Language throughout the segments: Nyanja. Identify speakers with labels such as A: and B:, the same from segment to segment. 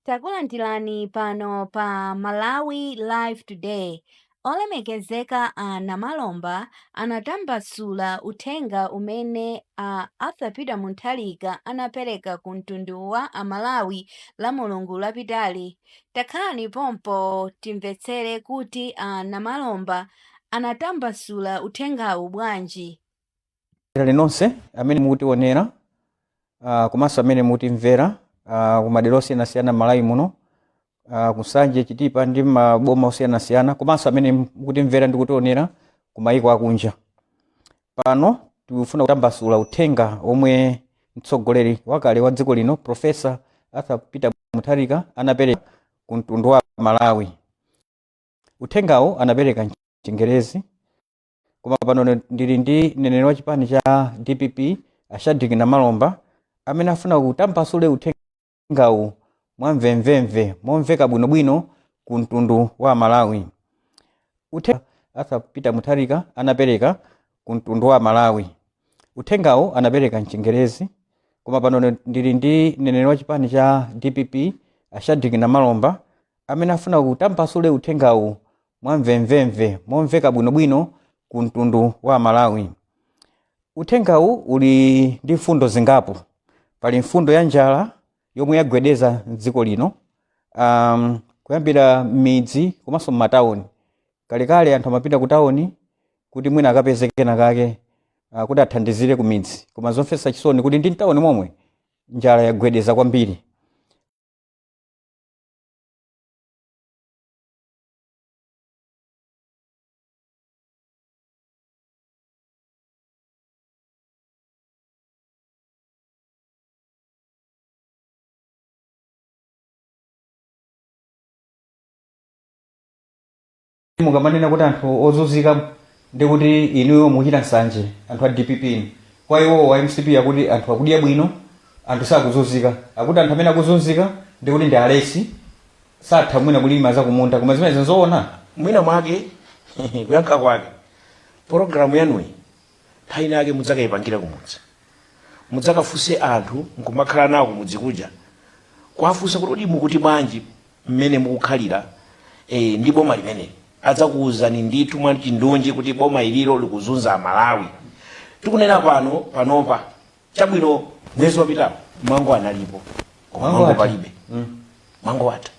A: Takulandirani pano pa Malawi Live Today. Olemekezeka a Namalomba anatambasula uthenga umene a Arthur Peter Mutharika anapereka ku mtundu wa a Malawi la Mulungu lapitali. Takhalani pompo timvetsere kuti a Namalomba anatambasula uthengawu bwanji. Inu
B: nonse amene mukutionera ah, komanso amene mukutimvera ah, ku madera osiyanasiyana m'Malawi muno ah, ku Nsanje, Chitipa ndi maboma osiyanasiyana komanso amene mukutimvera ndi kutionera ku mayiko akunja. Pano tikufuna kutambasula uthenga omwe mtsogoleri wakale wa dziko lino Profesa Arthur Peter Mutharika anapereka ku mtundu wa Malawi. Uthengawo anapereka m'Chingerezi koma pano ndili ndi mneneri wa chipani cha dpp a shadrack namalomba amene afuna kutambasule uthengawu mwa mvemvemve momveka bwinobwino ku mtundu wa amalawi Arthur Peter mutharika anapereka ku mtundu wa amalawi uthengawo anapereka mchingerezi koma pano ndili ndi mneneri wa chipani cha dpp a shadrack namalomba amene afuna kutambasule uthengawu mwamvemvemve, momveka bwinobwino ku mtundu wa Amalawi. Uthengawu uli ndi mfundo zingapo. Pali mfundo ya njala yomwe yagwedeza m'dziko lino um, kuyambira m'midzi komanso m'matawuni. Kalekale anthu amapita ku tawuni kuti mwina akapeze kena kake uh, kuti athandizire ku midzi, koma zomvetsa chisoni kuti ndi mtawuni momwe njala yagwedeza kwambiri. mukamanena kuti anthu ozunzika ndi kuti inuyo muchita nsanje anthu a dpp inu kwa iwo wa mcp akuti anthu akudya bwino anthu sakuzunzika akuti anthu amene akuzunzika ndi kuti ndi alesi satha mwina kulima zakumunda koma zimenezo n'zoona mwina
C: mwake kuyankha kwake pologalamu yanuyi nthawi ina yake mudzakayipangire kumudzi mudzakafunse anthu nkumakhala nawo kumudzi kuja kuwafunsa kuti kodi mukuti bwanji mmene mukukhalira eh, ndi boma limeneli adzakuwuzani ndithu mwachindunji kuti boma ililo likuzunza amalawi tikunena pano panopa chabwino mwezi wapitawo mango analipo koma Mango mango ati? palibe mango atha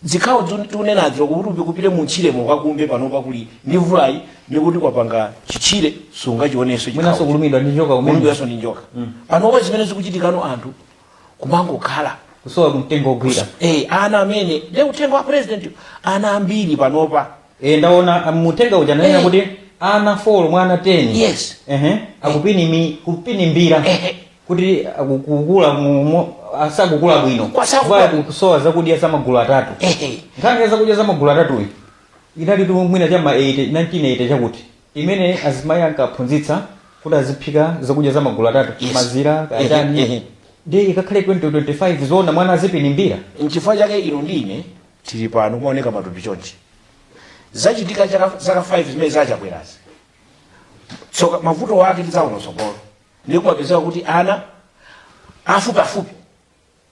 C: zikhawo zon- tikunenazo kuti upite m'tchiremo ukakumbe panopa kuli ndi mvulayi ndikuti kwapanga chitchire sungachionenso mwinanso kulumidwa ndi
B: njoka kumene kulumidwanso ndi njoka
C: panopa zimene zikuchitikano anthu kumangokhala kusowa
B: mtengo ogwira eh, ana
C: amene nde uthenga wa president ana ambiri panopa e, ndaona um,
B: mu uthenga uja ananena Eh. kuti ana 4 mwa ana 10 Yes. ehe
C: akupinimi
B: kupinimbira Eh. kuti akukukula mu- mu- asakukula bwino Kwa chifukwa- Kwa kusowa zakudya za magulu atatu Ehe. nkhani ya zakudya za magulu atatuyi inalitu mwina cha ma 80 1980 chakuti imene azimayi ankaphunzitsa kuti aziphika zakudya za magulu atatu Yes. mazira Ehe, ehe. kachani ndiye ikakhale 2025 zoona mwana azipinimbira nchifukwa chake inu
C: ndi ine tili pano kumaoneka matupi chonchi zachitika chaka- zaka 5 zimene za Chakwerazi tsoka mavuto ake tidzaona mtsogolo ndiye kumapezeka kuti ana afupiafupi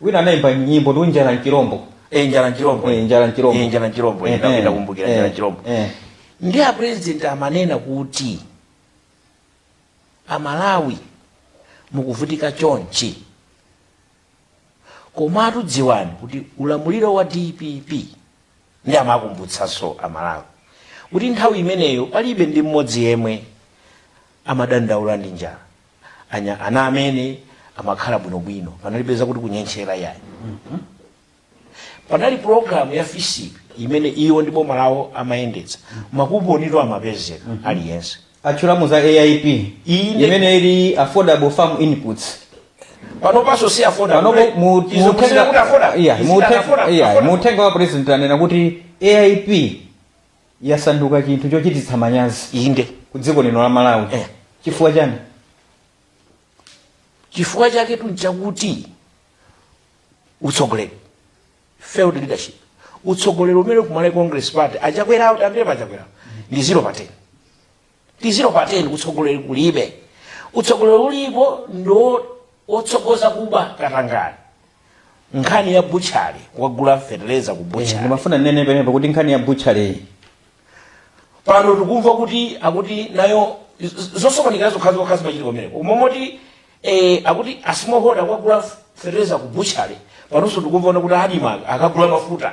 B: wina anaimba nyimbo ndi njala nchilombo Eh, njala
C: nchilombo Eh, njala nchilombo. Eh, njala nchilombo Eh, Ina- eh, inakumbukira eh, njala nchilombo eh. nde a president amanena kuti amalawi mukuvutika chonchi komatu dziwani kuti ulamuliro wa dpp nde amakumbutsanso amalawi kuti nthawi imeneyo palibe ndi mmodzi yemwe amadandaula ndi njala anya ana amene amakhala bwinobwino panalibe zakuti kunyentchera yayi panali pulogalamu ya fisipi imene iwo ndi boma lawo amayendetsa makuponitu amapezeka aliyense atchulamo
B: za aip Inde. imene ili affordable farm inputs
C: panopanso si afodabo panopo mu- mu- zikusiya kuti
B: afodabo Yeah, mu- Izina afoda, yeah, afoda. mu uthenga wa president anena kuti aip yasanduka chinthu chochititsa manyazi inde ku
C: dziko lino
B: la malawi Eh. chifukwa chani
C: chifukwa chaketu nchakuti utsogoleri failed leadership utsogoleri umene kuMalawi congress party a Chakwerawo amene pa a Chakwerawo ndi zero pa 10 ndi 0 pa 10 utsogoleri kulibe utsogoleri ulipo ndo wotsogoza kuba katangale nkhani ya butchali wagula feteleza ku Eh, butchali ndimafuna ndinene pamenepo kuti
B: nkhani ya butchaliyi
C: pano tikumva kuti akuti nayo z- zosokonekera zokhazokhazi zachitika pamene umomo kuti eh, akuti asimohoda wagula feteleza ku butchali panonso tikumva zoona kuti adima akagula mafuta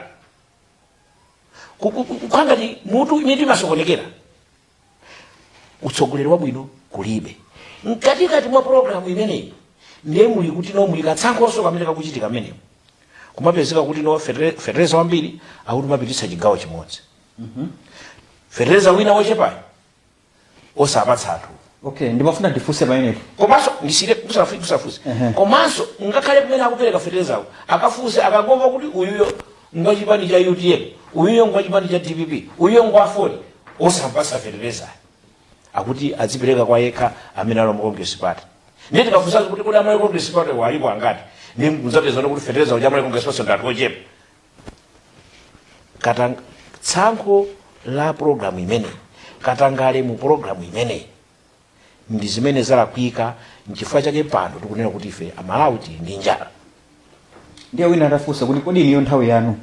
C: Ku- ku- ku- kukhala ngati mutu mitu imasokonekera utsogoleri wabwino kulibe mkatikati mwa pologalamu imeneyi ndiye muli kuti no muli katsankhonso kamene kakuchitika kameneko kumapezeka kuti no fetere- fetereza wambiri akuti amapititsa chigawo chimodzi fetereza wina wochepayo osapatsa anthu
B: okay ndimafuna ndifunse pamenepo komanso
C: ndisiye kusafu- kusafunse komanso ngakhale kumene akupereka fetereza akafunse akangomva kuti uyuyo ngwa chipani cha utm uyuyo ngwa chipani cha dpp uyuyo ngwa aford osampatsa feterezayo akuti azipereka kwa yekha amene ali mu congress party ndiye tikafunsanso kuti kodi a malawi congress party alipo angati ndiye mudzapeza kuti fetereza uja a malawi congress party ndi anthu ochepa katanga tsankho la programu imeneyi katangale mu programu imeneyi ndi zimene zalakwika nchifukwa chake pano tikunena kuti ife amalawi tili ndi
B: njala ndiye wina atafunsa kuti kodi iniyo nthawi yanu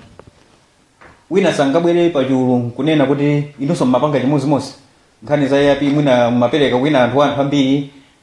B: wina sangabwere pachulu nkunena kuti inunso mmapanga chimodzimodzi nkhani za aip mwina mmapereka kwa ena anthu anthu ambiri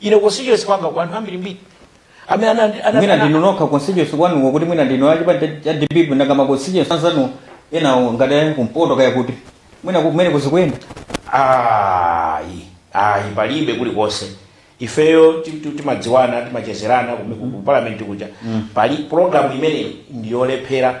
C: ine constituency kwanga kwa anthu ambirimbiri amene
B: ana- ana- mwina ana- ndinu nokha constituency kwanuko kuti mwina ndinu achipani cha- cha dpp nanga ma constituency anzanu enawo ngati ali kumpoto kaya kuti mwina kumeneko zikuyenda
C: ayi ayi palibe kulikonse ifeyo ti- ti- timadziwana timachezerana kume- ku ku parliament kuja pali program imeneyi ndiyolephera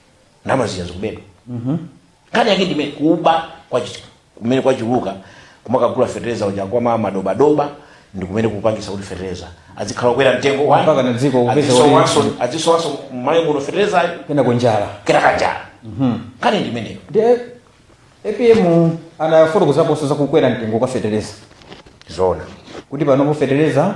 C: ndalama zija zikubedwa nkhani yake ndiye kuba kwachi- kumene kwachuluka kumakagula fetereza uja kwa ma- madobadoba ndi kumene kupangisa kuti fetereza azikhala kwera mtengo wa- Mpaka na dziko kupeza kuti-
B: azisowanso- azisowanso
C: mmalawi muno feterezayo kena kunjala
B: kena
C: kanjala nkhani ndi imeneyo
B: ndiye apm anafotokozaponso za kukwera mtengo kwa fetereza zoona
C: kuti panopo
B: fetereza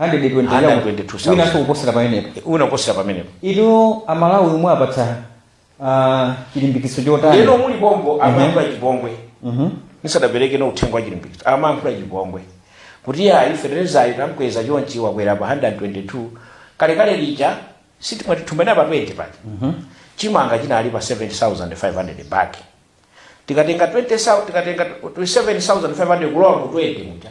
B: 122,000. winanso kuposera pamenepo wina kuposera pamenepo inu amalawi mumawapatsa ah, chilimbikitso chotani lero muli pompano
C: amayankhula chipongwe nisadapereke no uthenga wa chilimbikitso amayankhula chipongwe kuti ya feterezayo tamkweza chonchi wakwera pa 122 kalekale lija sitimati thumbena pa 20 pati chimanga chinali pa 7500 bag tikatenga 20,000 tikatenga 27500 kulowa ku 20 muja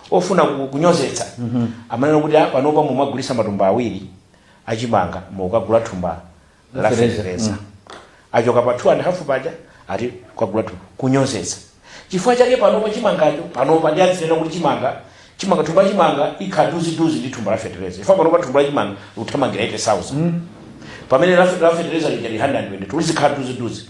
C: ofuna ku- kunyozetsa amanena kuti "Ah, panopa mumagulitsa matumba awiri achimanga mukagula thumba la Fertilizer, fertilizer achoka pa 2 and half paja ati kukagula thumba kunyozetsa chifukwa chake panopa chimangacho panopa ndi azinena kuti chimanga chimanga thumba la chimanga likhala dufupi dufupi ndi thumba la fertilizer chifukwa panopa thumba la chimanga likuthamangira 80000 pamene la la fertilizer lija ndi 120 kuti lizikhala dufupi dufupi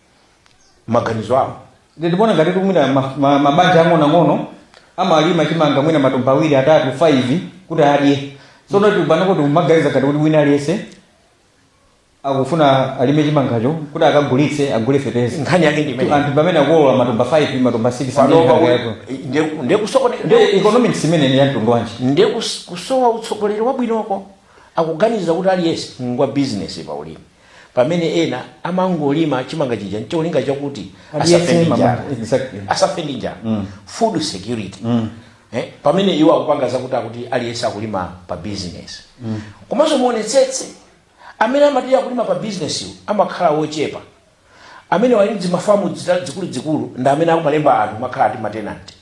C: maganizo awo ndikuona ngati
B: kumwina ma- ma- mabanja ang'onoang'ono amalima chimanga mwina matumba awiri atatu 5 kuti adye sono tikupanga kuti umaganiza ngati kuti wina aliyense akufuna alime chimangacho kuti akagulitse agule fetereza nkhani yake ndi imene
C: anthu pamene akolola
B: matumba 5 matumba 6 panopa amene akayako. nde- nde
C: kusokoneka- Nde nde- economics imeneyi ndi
B: ya mtundu wanji nde kus- kusowa
C: utsogoleri wabwinoko akuganiza kuti aliyense ngwa bizinesi pa ulimi pamene ena amangolima chimanga chija ncholinga chakuti asafe ndi mama- njala exactly. asafe ndi njala food security eh, pamene iwo akupanga zakuti akuti aliyense akulima pa business komanso muonetsetse amene amati akulima pa business wo amakhala wochepa amene ali ndi mafamu dzita- dzikuluzikulu ndi amene akumalemba anthu makhala ati matenanti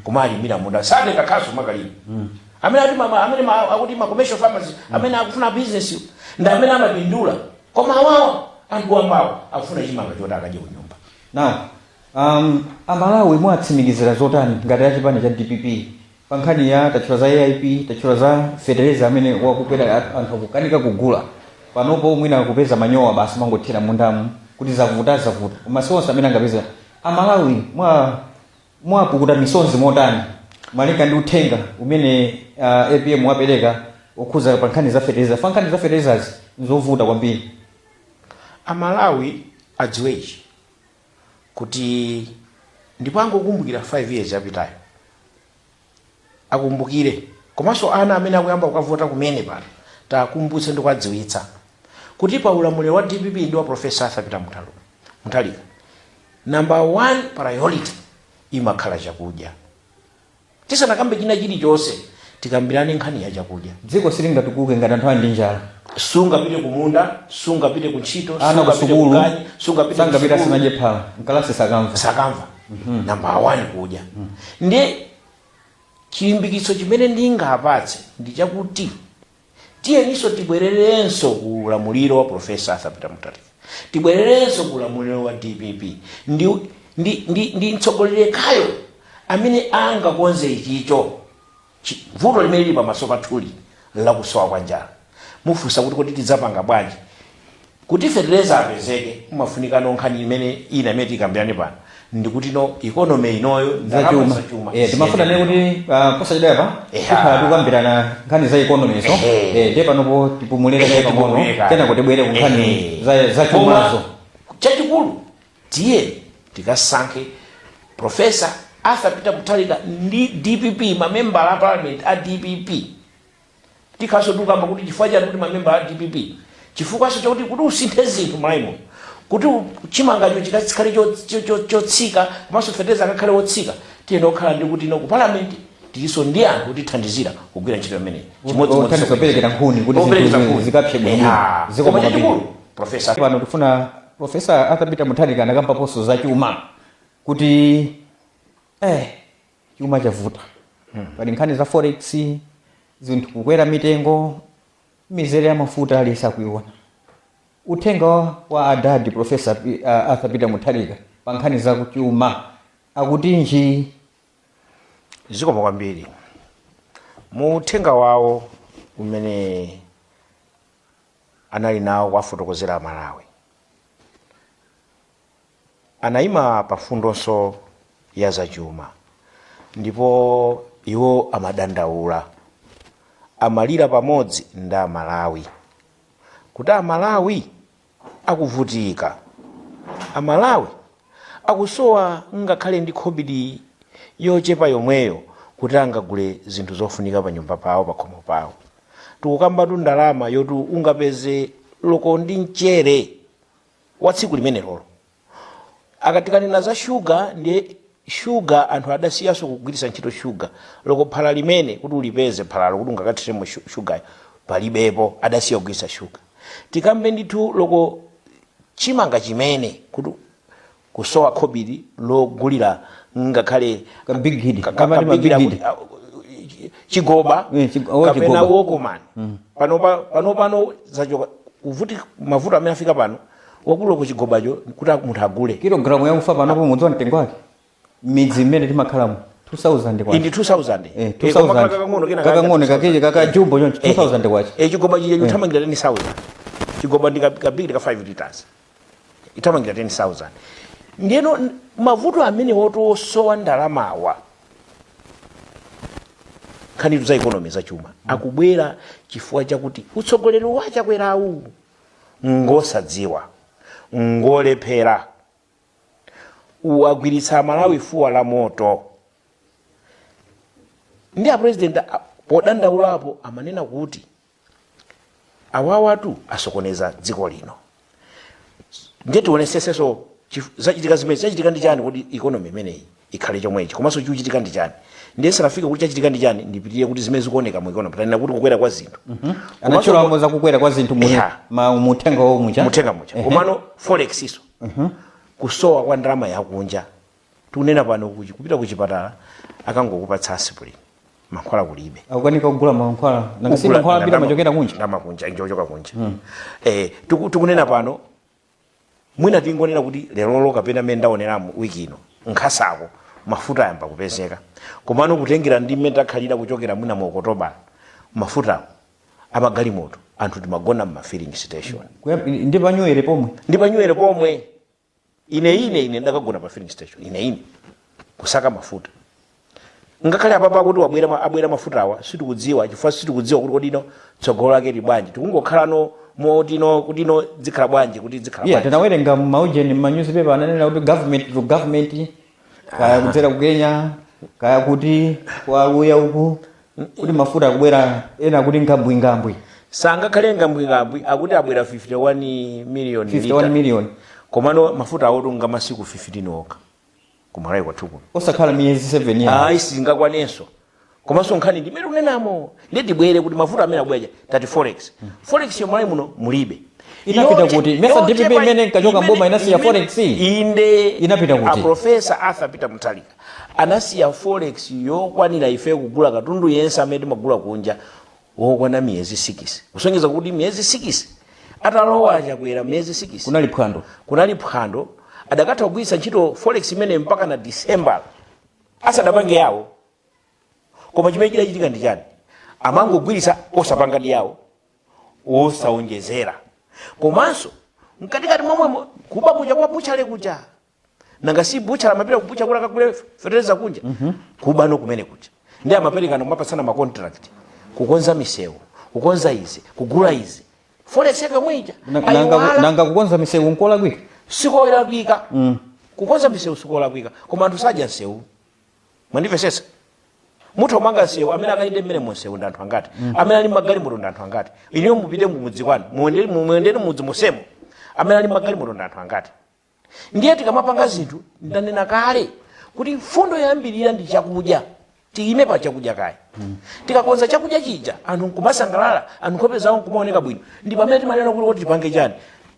C: kumawalimira munda satenga khasu kumakalima amene ati mama amene ma, akuti ma commercial farmers amene akufuna business yo, ndi amene amapindula koma awawa anthu wambawa akufuna chimanga choti akadye ku nyumba now
B: um, amalawi mwatsimikizira zotani ngati a chipani cha dpp pa nkhani ya tatchula za aip tatchula za fetereza amene wakukwera a- anthu akukanika kugula panopo mwina akupeza manyowa basi kumangothira mundamu kuti zavuta zavuta koma si onse amene angapeza amalawi mwa Mwapukuta misonzi motani malinga ndi uthenga umene uh, APM wapereka okhuza pa nkhani za fetereza? Pa nkhani za feterezazi nzovuta kwambiri.
C: Amalawi adziwe ichi kuti ndipo angokumbukira 5 years yapitayo akumbukire komanso ana amene akuyamba kukavota kumene pano tiwakumbutse ndi kuwadziwitsa kuti pa ulamuliro wa dpp ndi wa profesa arthur peter Muthalu- muthalika number one priority imakhala chakudya tisanakambe china chilichonse tikambirane nkhani ya chakudya dziko
B: silingatukuke ngati anthu ali ndi njala sungapite
C: kumunda sungapite kuntchito ana sangapite kusukulu kukani
B: sungapite sangapita
C: kusukulu. asanadye phala
B: mkalasi sakamva sakamva
C: Mhm. number one kudya ndiye chilimbikitso chimene ndingapatse ndi chakuti tiyeninso tibwererenso ku ulamuliro wa profesa arthur peter mutharika tibwererenso ku ulamuliro wa dpp ndi, ndi, ndi, ndi mtsogoleri yekhayo amene angakonze ichicho C. Vuto limene lili pamaso pathuli nlakusowa kwa njala. Mufunsa kuti, Kodi tidzapanga bwanji? Kuti fetereza apezeke, mumafunikano nkhani imene ina imene tikambirane pano ndi yakutino economy inoyo ndalama zachuma zachuma Eh, ndimafuna ndinene
B: kuti ah, posachedwapa Eha. tikhala tikukambirana nkhani za economy zo Ehe. Eh, ndiye panopo tipumulire kaye pang'ono kenako tibwere ku nkhani za- zachumazo chachikulu
C: Tiyeni tikasankhe Prof. Arthur Peter Mutharika ndi dpp, mamembala a parliament a dpp. Tikhalanso tikukamba kuti chifukwa chiyani kuti mamembala a dpp? Chifukwanso chakuti kuti usinthe zinthu m'Malawi muno, kuti chimangacho chikakhale chotsika komanso fetereza akakhale wotsika, tiyenera kukhala ndi kuti ku parliament tilinso ndi anthu otithandizira kugwira ntchito imeneyi. Chimodzimodzinso Othandiza kupereka
B: nkhuni kuti operekeza zinthu nkhuni. zikapse bwinobwino. Eya. Zikomo Koma kwambiri. chachikulu, Prof.
C: Pano tikufuna
B: Professor Arthur Peter Mutharika anakambaponso za chuma kuti eh, chuma chavuta pali nkhani za forex zinthu kukwera mitengo mizere ya mafuta aliyense akuiona uthenga wa- wa adadi profesa P- uh, arthur peter mutharika pa nkhani za kuchuma akutinji
C: zikomo kwambiri mu uthenga wawo umene anali nawo wowafotokozera Amalawi. Anaima pa mfundonso ya zachuma ndipo iwo amadandaula, amalira pamodzi ndi Amalawi kuti Amalawi akuvutika, Amalawi akusowa ngakhale ndi khobidi yochepa yomweyo kuti angagule zinthu zofunika panyumba pawo pakhomo pawo tikukambatu ndalama yoti ungapeze loko ndi mchere wa tsiku limenelolo tikatikanena za shuga ndiye shuga anthu adasiyanso kugwiritsa ntchito shuga loko phala limene kuti ulipeze phalalo kuti ungakathiremo shu- shugayo palibepo adasiya kugwiritsa shuga tikambe ndithu loko chimanga chimene. kuti kusowa khobidi logulira ngakhale kabigili. ka- ka-
B: Amati ma kabigila big kuti- kid.
C: a- chi- chigoba Eh, chig- oh, kapena chigoba. okumani panopa panopano zachoka kuvuti mavuto amene afika pano akuti loko chigobacho kuti munthu agule Kilogramu ya ufa panopo
B: mudziwa mtengo wake. m'midzi mmene timakhalamu 2000 kwacha indi 2000 Eh, Eh, koma
C: 2000.
B: kakang'ono kena kakang'ono kakeje kakajumbo choncho 2000 kwacha e chigoba chija chithamangira
C: 10000 chigoba ndi ka- kabigili ka 5 liters ithamangira 10000 ndiyeno n- mavuto amene wotosowa ndalamawa nkhanitu za ikonomi za chuma akubwera chifukwa chakuti utsogoleri wa a Chakwerawu ngosadziwa ngolephera uwagwiritsa amalawi fuwa la moto ndiye a president a- podandaulapo amanena kuti awawatu asokoneza dziko lino ndiye tionetsetsenso chif- zachitika zimene zachitika ndi chani kodi ikonomi imeneyi ikhale chomwechi komanso chikuchitika ndi chani ndiye ndisanafike kuti chachitika ndi chani ndipitirire kuti zimene zikuoneka mu economy tanena za kukwera kwa zinthu komanso anatchulamo za
B: kukwera kwa zinthu mu- Yeah. ma- mu uthenga wawo muja muthenga muja Ehe. komano
C: forex iso kusowa kwa ndalama yakunja tikunena pano kuchi- kupita ku chipatala akangokupatsa asipulini mankhwala kulibe akukanika kugula mankhwala
B: nanga si mankhwala ambiri ndalama- amachokera kunja ndalama kunja njochoka kunja
C: eh tiku- tikunena pano mwina tingonena kuti lerolo kapena mmene ndaoneramu wiki ino nkasako mafuta ayamba kupezeka komano kutengera ndi mmene takhalira kuchokera mwina mu Okotobala mafutawo amagalimoto anthu timagona mma filling station ndi
B: panyuwere pomwe ndi panyuwere pomwe ine ine ine ndakagona pa filling station ine ine kusaka mafuta ngakhale apapa akuti wabwera ma- abwera mafutawa sitikudziwa chifukwa sitikudziwa kuti kodi no tsogolo lake li bwanji tikungokhalano motino kuti no dzikhala bwanji kuti dzikhala bwanji tinawerenga maujeni manyuzipepa ananena kuti government to government kaya kudzera ku Kenya kaya kuti kwa Aluya uku kuti mafuta akubwera ena kuti ngambwingambwi sangakhale
C: ngambwingambwi akuti abwera 51 million 51 million komano mafuta awothanga masiku 15 okha ku Malawi kwathu kuno osakhala miyezi
B: 7 ya ayi
C: singakwanenso komanso nkhani ndi imene tikunenamo ndiye tibwere kuti mafuta amene abwera tati forex forex yo Malawi muno mulibe Inapita kuti?
B: Mesa DPP imene inkachoka mboma inasiya forex?
C: inde Inapita
B: kuti? aprofesa
C: Arthur Peter Mutharika anasiya forex yokwanira ife kugula katundu yense amene timagula kunja wokwana miyezi sikisi kusonyeza kuti miyezi sikisi atalowa a Chakwera miyezi sikisi kunali phwando kunali phwando adakatha kugwiritsa ntchito forex imene mpaka na December asadapange yawo koma chimene chidachitika ndi chani amangogwiritsa osapanga ndi yawo osawonjezera komanso mkatikati momwemo kuba kuja kwa buchale kuja nanga si buchale amapita kubucha kuja kakagule feteleza kunja mm -hmm. kuba no kumene kuja ndi amapereka no mapasana ma contract kukonza misewu kukonza izi kugula izi forex yake mwaiona nanga nanga
B: kukonza misewu nkolakwika sikolakwika
C: mm. kukonza misewu sikolakwika koma anthu sadya msewu mwandimvetsetsa mutu omanga msewu amene akayende mmenemo munsewu ndi anthu angati mm. amene ali magalimoto ndi anthu angati inuyo mupite mumudzi kwanu muyende mmudzi monsemo amene ali magalimoto ndi anthu angati ndiye tikamapanga zinthu ndanena kale kuti mfundo yoyambirira ndi chakudya tiyime pa chakudya kaye tikakonza chakudya chija anthu nkumasangalala anthu nkhope zawo nkumaoneka bwino ndi pamene timanena kuti kuti tipange chani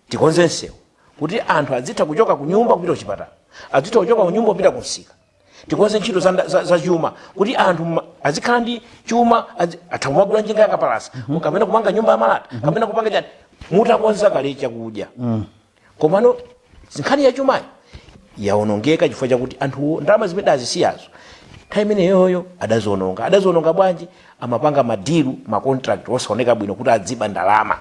C: tikonze msewu kuti anthu adzitha kuchoka ku nyumba kupita kuchipatala adzitha kuchoka ku nyumba kupita kumsika tikonze ntchito za chuma kuti anthu azikhala ndi chuma atha kumagula njinga yakapalasa kapena kumanga nyumba ya malata kapena kupanga chani mutakonza kale chakudya komano nkhani ya chumayi yaonongeka chifukwa chakuti anthuwo ndalama zimene azisiyazo nthawi imeneyoyo adaziononga adaziononga bwanji amapanga madilu macontract osaoneka bwino kuti adziba ndalama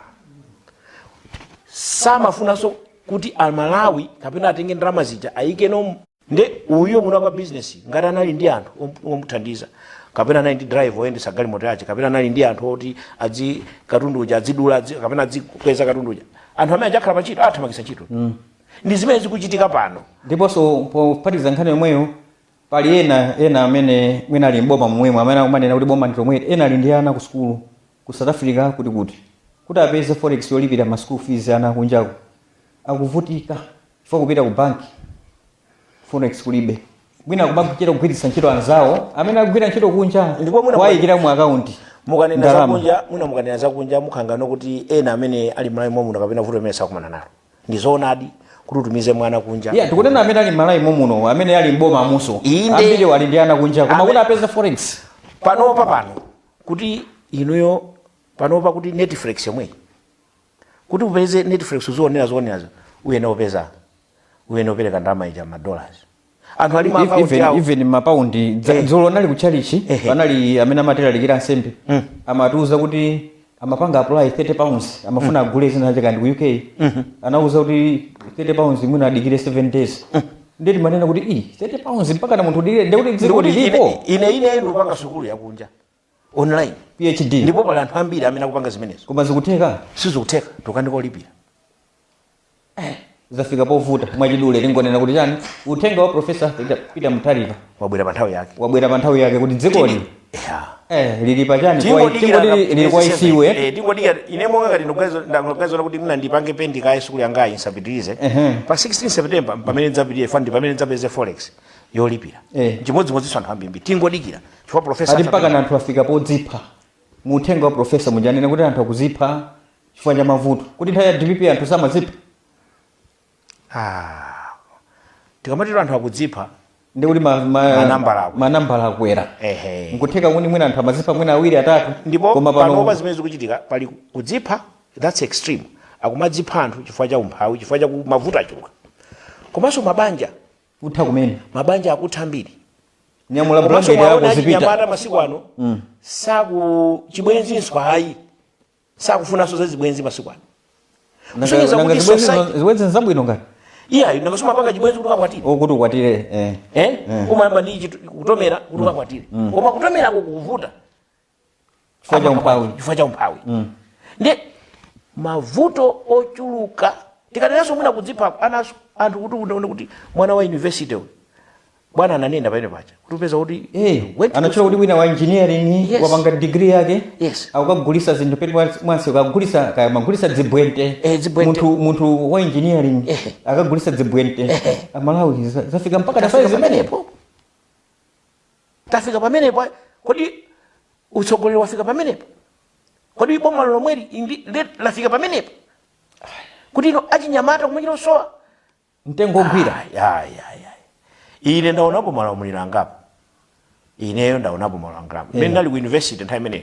C: samafunanso kuti aMalawi kapena atenge ndalama zija ayikeno nde uyu munali kwa business ngati anali ndi anthu om- omuthandiza kapena anali ndi driver oyendetsa galimoto yake kapena anali ndi anthu oti adzi katundu uja adzidula adzi- kapena adzikweza katundu uja anthu amene aja akhala pa ntchito awathamangitsa ntchito ndi zimene zikuchitika pano
B: ndiponso pophatiza nkhani yomweyo pali ena ena amene mwina ali mboma momwemo amene akumanena kuti boma ndilomweli ena ali ndi ana ku sukulu ku south africa kuti kuti kuti apeze forex yolipira ma school fees ana akunjako akuvutika chifukwa kupita ku banki forex kulibe mwina kumachita kugwiritsa ntchito anzawo amene akugwira ntchito kunja Ndipo mwina- kuwayikira mu
C: akaunti
B: mukunena Ndalama. zakunja
C: mwina mukunena zakunja mukhala ngati kuti ena amene ali malawi momuno kapena vuto limene sakukumana nalo ndi zoonadi kuti utumize mwana kunja iyayi tikunena amene ali
B: m'malawi momuno amene ali m'boma momuso Inde. ambiri ali ndi ana kunja koma Amene- kuti apeze forex panopa pano
C: kuti inuyo panopa kuti netflix yomweyi kuti upeze netflix uzionera zoonerazo uyenera upeze uyenera upereke ndalama ija ma dollars anthu ali ma If- account even, awo even mapaundi
B: dza- Eh. dzulo ndinali kutchalichi Eh. panali amene amatilalikira ansembe Mm. amatiuza kuti amapanga apply 30 pounds amafuna agule zina zake kaya ndi ku uk anauzidwa kuti 30 pounds mwina adikire 7 days ndiye timanena kuti "Ih, 30 pounds mpakana munthu udikire ndekuti dziko Ndikuti lilipo ine- ine ine ndikupanga
C: sukulu yakunja online phd
B: ndipo pali anthu
C: ambiri amene akupanga zimenezo koma
B: zikutheka sizikutheka nkhani yolipira zafika povuta mwachidule tingonena kuti chani uthenga wa profesa peter, peter mutharika wabwera pa nthawi yake
C: wabwera pa nthawi yake kuti
B: dzikoli Yeah. eh, lili pa chani Kwa- Tingodikira tingoti na- lili- lili kwa isiwe Eh, tingodikira ine
C: monga ngati ndikuganiza kuti mwina ndipange pend kaye sukulu yangayi ndisapitirize Ehe. pa 16 september pamene ndidzapitire fandi pamene ndidzapeze forex yolipira eh. chimodzimodzinso anthu ambiri tingodikira chifukwa profesa ati mpaka anthu
B: afika podzipha mu uthenga wa profesa muja anena kuti anthu akudzipha chifukwa cha mavuto kuti nthawi ya dpp anthu samadzipha ah.
C: tikamatero anthu akudzipha
B: ndikuti manambala akwera nkutheka kuti mwina anthu amadzipha mwina awiri atatu ndipo
C: panopa zimene zikuchitika pali kudzipha that's extreme akumadzipha anthu chifukwa cha umphawi chifukwa cha mavuto achuluka komanso mabanja kutha
B: kumene mabanja akutha
C: ambiri nyamula
B: komanso bulangeti yako mwaona zipita achinyamata masiku
C: ano za chibwenzinso ayi sakufunanso za zibwenzi masiku ano Nanga- kusonyeza nanga kuti zibwenzi-
B: society- zibwenzi nzabwino ngati iyayi nanga
C: sumapanga chibwenzi kuti ukakwatire kuti ukwatire eh.
B: eh umayamba
C: ndi chitu- kutomera kuti ukakwatire koma kutomerako kukuvuta Chifukwa cha
B: umphawi. chifukwa cha
C: umphawi ndiye mavuto ochuluka tikanenanso mwina kudzipha anaso anthu kuti unaone kuti mwana wa university uyu bwana ananena pamene paja kuti upeza kuti Eh, went to anatchula kuti
B: wina wa engineering Yes. wapanga degree yake Yes. akukagulitsa zinthu peti mwansi akugulitsa kaya amagulitsa dzibwente Eh, dzibwente. munthu munthu wa engineering Eh. akagulitsa dzibwente amalawi za- zafika mpaka Zafika tafika pamenepo.
C: tafika pamenepo kodi utsogoleri wafika pamenepo kodi boma lomweli ndi lafika pamenepo kuti inu achinyamata kumachita kusowa
B: mtengo
C: ogwira ine ndaonapo maulamuliro angapo ineyo ndaonapo malamuliro angapo ine mmene ndinali ku university nthawi imeneyo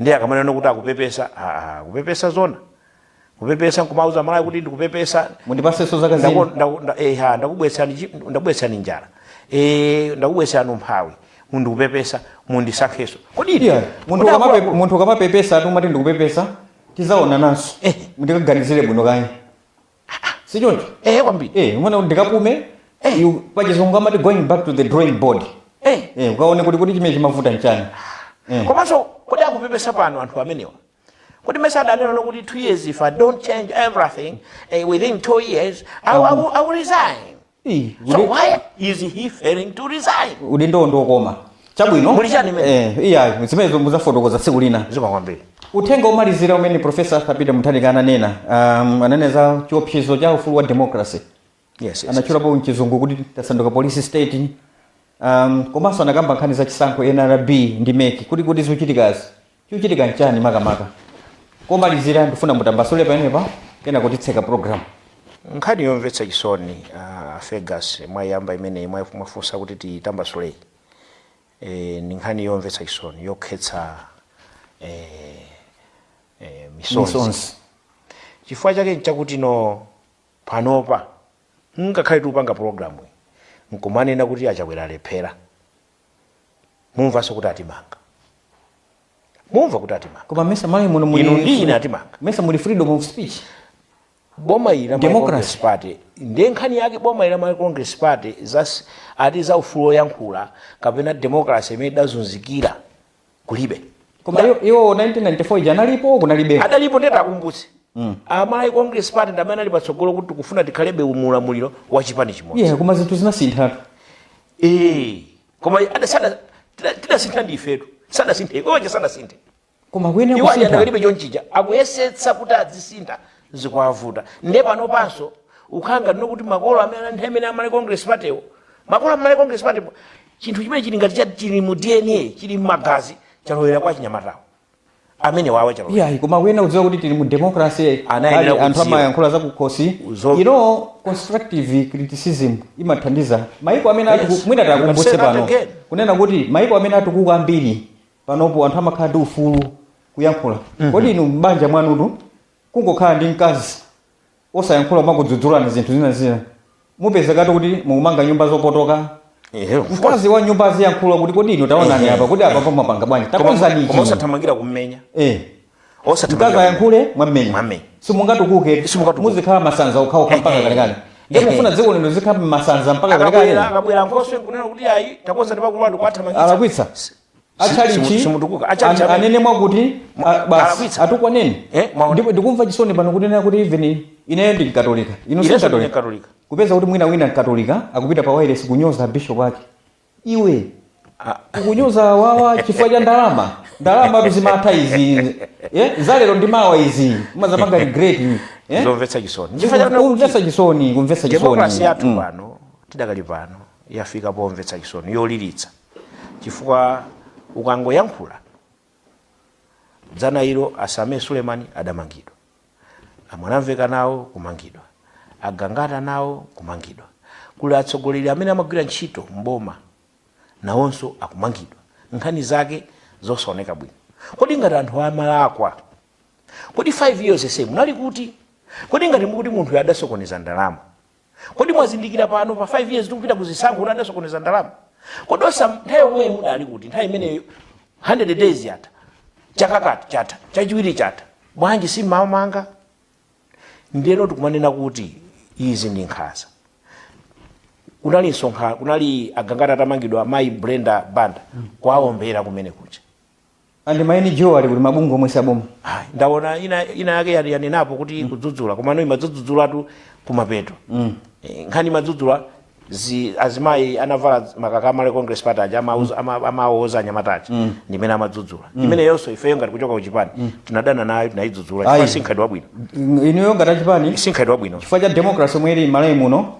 C: ndiye akamanena kuti akupepesa aa kupepesa zona kupepesa nkumauza amalawi kuti ndikupepesa mundipatsenso zaka zina Ndaku-
B: ndaku- nda- eh, ha, ndakubweretsani chi-
C: ndakubweretsani njala Eh, ndakubweretsani umphawi ndikupepesa mundisankhenso kodi ine- Yeah, munthu kodi ukamape- akuluakulu-
B: munthu ukamapepesa ati umati ndikupepesa tidzaonananso Eh. ndikaganizire bwino kani sichoncho ehe kwambiri
C: eh umanena kuti
B: ndikapume Eh. you- pachizungu amati going back to the drawing board Eh. eh ukaone kuti kuti chimene chimavuta nchani eh
C: komanso kodi akupepesa pano anthu amenewa kodi mesa adanena kuti two years if i don't change everything eh, within two years I, will- I, will, I will resign so why is he failing to resign udindowo
B: ndiokoma chabwino Muli chani mene? Eh, iya zimenezo mudzafotokoza tsiku lina zikomo kwambiri uthenga omalizira umene profesa arthur peter mutharika ananena um, ananena za chiopsezo cha ufulu wa democracy yes, yes. anatchulapo mchizungu kuti tasanduka police state um, komanso anakamba nkhani za chisankho nrb ndi MEC kuti kuti zikuchitikazi Chikuchitika nchani makamaka? Kumalizira ndifuna mutambasule pamenepa kenako titseka program.
C: Nkhani yomvetsa chisoni a Fergus mwayiyamba imeneyi mwa- mwafunsa kuti tiyitambasuleyi. Eh, ndi nkhani yomvetsa chisoni yokhetsa eh, eh, misonzi. Misonzi. Chifukwa chake nchakuti no panopa ngakhale tikupanga program iyi nkumanena kuti achakwera alephera. mumvanso kuti atimanga mumva kuti atimanga koma mesa mali muno muli
B: inu ndi ine atimanga
C: mesa muli freedom of
B: speech boma
C: ili la Democracy. party ndiye nkhani yake boma ili la malawi congress party zas- ati za ufulu woyankhula kapena democracy imene idazunzikira kulibe koma Ba-
B: iwo- iwo 1994 ija analipo kunalibe adalipo nde
C: takumbutsani amalawi congress party ndi amene anali patsogolo kuti tikufuna tikhalebe mu ulamuliro wa chipani chimodzi yeah koma zinthu zinasinthatu
B: Eh,
C: koma ada- sada- tida- tidasintha ndi ifetu sadasinthe iwoje sadasinthe koma kuyenera
B: iwo kusintha adakalibe
C: chonchija akuyesetsa kuti adzisintha zikuwavuta nde pano panso ukukhala ngati kuti makolo amene anthu amene amalawi congress partywo makolo amalawi congress partypo chinthu chimene chili ngati cha- chili mu dna chili mmagazi chalowera kwa achinyamatawo amene awa chalowerera iyayi koma kuyenera kudziwa kuti tili
B: mu democracy Anayenera anthu kudziwa. amayankhula zakukhosi Uzo- you know constructive criticism imathandiza maiko amene Yes. atuku- mwina You can takumbutse say that pano again. kunena kuti maiko amene atukuka ambiri panopo anthu amakhala ndi ufulu kuyankhula kodi inu m'banja mwanutu kungokhala ndi mkazi osayankhula kumakudzudzulani zinthu zina zina mupezekatu kuti mukumanga nyumba zopotoka Ehe, of course. mkazi wa nyumba aziyankhula kuti kodi inu taonani Ehe. apa kodi apa mwapanga bwanji Koma- takonzani koma ichi osathamangira kummenya
C: eh mkazi
B: osathamangira akayankhula mwammenya Mwammenya. simungatukuke Simungatukuke. muzikhala masanza okhaokha mpaka Ehe. kalekale ndiye Ehe. mufuna dziko lino lizikhala masanza mpaka kalekale akabwera akabwera nkhoswe kunena
C: kuti ayi takonza ndipakulwa ndikuwathamangitsa alakwitsa
B: atchalitchi simutukuka atchalitchi an- amene anene mwakuti a- basi Alakwitsa. atukwaneni Eh, mwaona. ndipo ndikumva chisoni pano kunena kuti even ineyo ndi mkatolika Inenso ndi mkatolika Mkatolika. kupeza kuti mwina wina mkatolika akupita pa wailesi kunyoza bishop wake iwe Ah. kunyoza awa chifukwa cha ndalama ndalama tu zimatha izi eh, zalero ndi mawa izi mudzapanga regret eh? zomvetsa chisoni
C: Chifukwa chakuti kumvetsa chisoni
B: kumvetsa chisoni demokrasi yathu Mm. pano
C: tidakali pano yafika pomvetsa chisoni yoliritsa chifukwa ukangoyankhula dzana ilo a Sameer Suleman adamangidwa a Mwanamvekha nawo kumangidwa a Gangata nawo kumangidwa kuli atsogoleri amene amagwira ntchito mboma nawonso akumangidwa nkhani zake zosaoneka bwino kodi ngati anthu amalakwa kodi 5 years yonseyi munali kuti kodi ngati mukuti munthu adasokoneza ndalama kodi mwazindikira pano pa 5 years tikupita kuzisankho kuti adasokoneza ndalama kodi osa nthawi yomweyo mudali kuti nthawi imeneyo 100 days yatha chaka chatha chachiwiri chatha bwanji simmawamanga ndiyeno tikumanena kuti izi ndi nkhanza kunali msonkhano kunali a Gangata atamangidwa mayi brenda banda kuwawombera kumene kuja and
B: ma NGO ali kuti mabungwe omwe si aboma Ayi, ndaona
C: ina ina yake yani- yanenapo kuti kudzudzula komano imadzudzulatu kumapeto Eh, nkhani imadzudzula zi azimayi anavala makaka a Malawi Congress Party aja amauza- ama- amawauza anyamata aja ndimene amadzudzula imeneyonso ifeyo ngati kuchoka kuchipani tinadana nayo tinayidzudzula Ayi. chifukwa si mkhalidwe wabwino inuyo ngati
B: achipani si mkhalidwe wabwino chifukwa cha
C: democracy omwe ili
B: m'malawi muno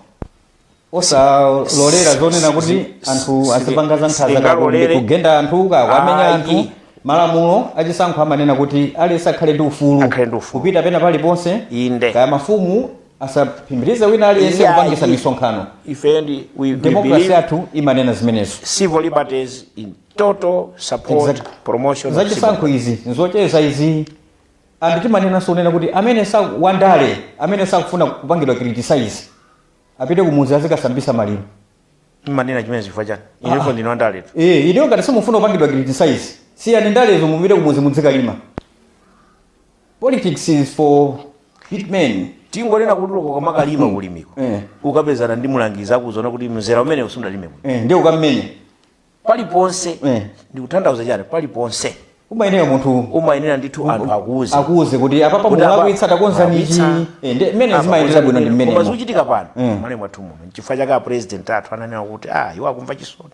B: osalolera zonena kuti anthu azipanga za nkhanza kakumbi kugenda anthu kuwamenya anthu malamulo achisankho amanena kuti aliyense akhale ndi ufulu Akhale ndi ufulu. kupita pena paliponse Inde. kaya mafumu asaphimbirize wina aliyense Yeah, kupangitsa i- misonkhano ife ndi we, we demokrasi believe yathu imanena zimenezo civil liberties
C: in total support Exactly. promotion of civil zachisankho izi nzocheza
B: izi and timanenanso kunena kuti amene sa wandale amene sakufuna kupangidwa criticise apite kumudzi azikasambisa maliro mmanena
C: chimene chifukwa chani ineyo ndine wandaletu eh ineyo ngati simufuna
B: kupangidwa criticize siyani ndalezo mupite kumudzi mudzikalima politics is for fit men tingonena kuti
C: uko kwamakalima kulimiko Eh. ukapezana ndi mulangizi akuuza kuti mzera umene sunalime bwino eh ndiye ukammenye paliponse Eh. ndikutanthauza chani paliponse umayenera
B: munthu umayenera ndithu
C: anthu akuuze akuuze
B: kuti apapa Kuti apa- mulakwitsa takonzani ichi Eh, ndi mmene zimayendera bwino ndi koma mmene zikuchitika pano Mm.
C: m'Malawi mwathu muno nchifukwa chake apresident athu ananena kuti ah iwo akumva chisoni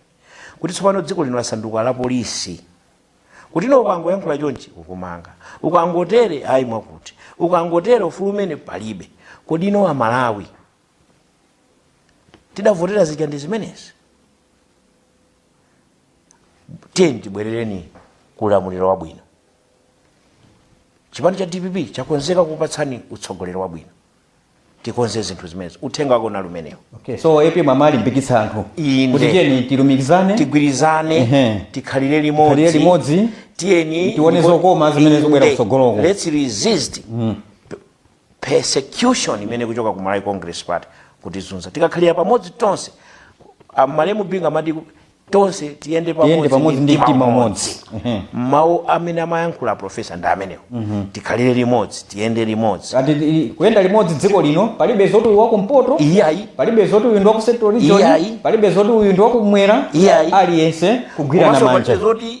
C: kuti tsopano dziko lino lasanduka la polisi kuti no ukangoyankhula chonchi akumanga ukangotere ayi mwakuti ukangotere ufulu umenewo palibe kodi no amalawi tidavotera zija ndi zimenezi tiyeni tibwerere ku ulamuliro wabwino chipani cha dpp chakonzeka kukupatsani utsogoleri wabwino tikonze zinthu zimenezi uthenga wako unali umenewo okay. so
B: AP mwamalimbikitsa anthu Inde. kuti tiyeni tilumikizane tigwirizane Ehe.
C: tikhalire limodzi Tikhalire limodzi. tiyeni Tione zokoma
B: zimene zikubwera Inde. kutsogoloko. let's resist
C: persecution imene ikuchoka ku Malawi Congress Party kutizunza tikakhalira pamodzi tonse ah, malemu Bingu amati tonse tiyende Tiyende pamodzi ndi mtima mtima umodzi. umodzi
B: mawu
C: amene amayankhula a profesa ndi amenewo tikhalire limodzi tiyende limodzi Ati i- kuyenda
B: limodzi dziko lino palibe zoti uyu wakumpoto iyayi palibe zoti uyu ndi waku central region Iyayi. palibe zoti uyu ndi wakumwera Iyayi. aliyense kugwirana manja palibe zoti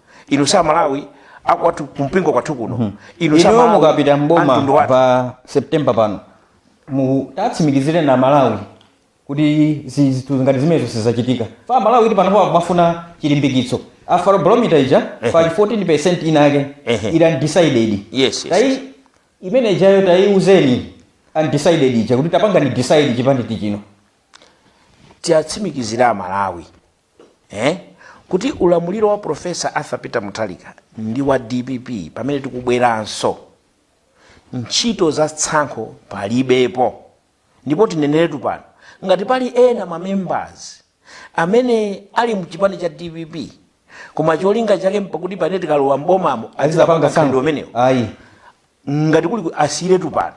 C: inu sa malawi akwathu kumpingo kwathu kuno inu sa inuyo Malawi,
B: mukapita mboma amtundu wathu. pa september pano mutatsimikizireni aMalawi kuti zi- zinthu ngati zimenezo sizachitika chifukwa aMalawi panopa akumafuna chilimbikitso Afrobarometer ija pali 14 percent inake Ehe. ili undecided Yes, yes, tayi imene ijayo tayiuzeni undecided ija kuti tapangani decide chipani ndichino tiwatsimikizira
C: amalawi eh? kuti ulamuliro wa Profesa Arthur Peter Mutharika ndi wa DPP pamene tikubweranso ntchito za tsankho palibepo ndipo tineneretu pano ngati pali ena mamembers amene ali mchipani cha DPP koma cholinga chake nchakuti pamene tikalowa mbomamo azizapanga tsankho umenewo ngati kuli asiyiretu pano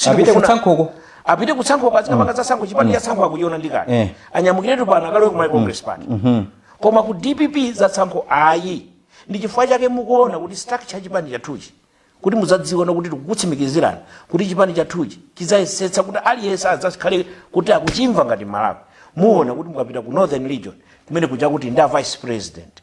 C: apite kutsankhoko apite kutsankhoko azikapanga mm. zatsankho chipani cha mm. tsankho akuchiona ndi kale eh. anyamukiretu pano akalowe ku Malawi congress mm. party mm-hmm. koma ku dpp za tsankho ayi ndi chifukwa chake mukuona kuti structure ya chipani chathuchi kuti muzadziona kuti tikukutsimikizirani kuti chipani chathuchi chidzayesetsa kuti aliyense adzakhale kuti akuchimva ngati mmalawi muona kuti mukapita ku northern region kumene kuja kuti ndi a vice president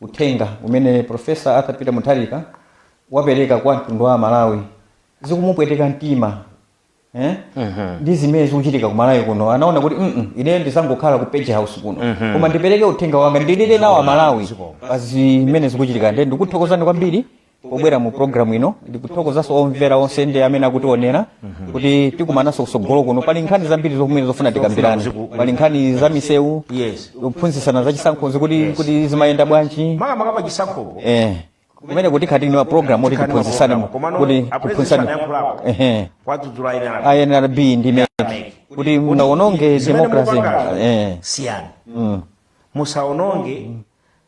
B: Uthenga umene Prof. Arthur Peter Mutharika wapereka kwa mtundu wa Amalawi zikumupweteka mtima eh? ndi zimene zikuchitika ku Malawi kuno anaona kuti mm ineyo ndisangokhala ku page house kuno koma ndipereke uthenga wanga ndilire nawo Amalawi pa zimene zikuchitika nde ndikuthokozani kwambiri pobwera mu programu ino ndikuthokozanso omvera onse ndi amene akutionera kuti tikumananso kusogolo kuno pali nkhani zambiri zomwe zofuna tikambirane pali nkhani za misewu Yes. kuphunzitsana za chisankhozi kuti zimayenda bwanji makamaka pa chisankhopo
C: eh
B: kumene kuti khati ni wa programu kuti tiphunzitsane mu- kuti tiphunzitsane ehe kuwadzudzula ena ake. a NRB ndi MEC kuti musaononge Zimene democracy mukupanga eh siyani
C: mm. musaononge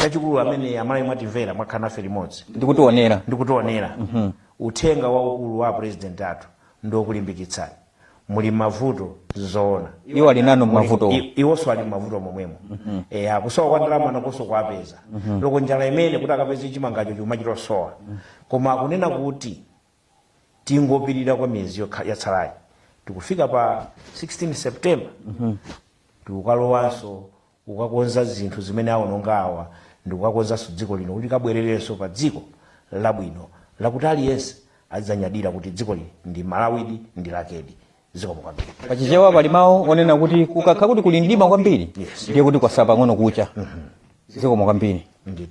C: chachikulu amene amalawi mwatimvera mwakhala nafe limodzi ndikutionera uthenga waukulu wa apresident athu ndiokulimbikitsani muli mmavuto zoona iwo ali nanu
B: mmavuto I- iwonso ali mmavuto
C: momwemo akusowa kwa ndalama nakonso kukuwapeza loko njala imene kuti akapeze chimangacho chuma chikusowa koma akunena kuti tingopirira kwa miyezi yokha- yatsalayi tikufika pa 16 september tikukalowanso kukakonza zinthu zimene awononga awa ndi kukakonzanso dziko lino kuti likabwererenso pa dziko labwino lakuti aliyense adzanyadira kuti dzikoli ndi Malawidi, ndi lakedi. Zikomo kwambiri. Pa Chichewa pali
B: mawu onena kuti kukakhala kuti kuli mdima kwambiri Yes. ndiye kuti kwasala pang'ono kucha. Zikomo kwambiri. Ndithu.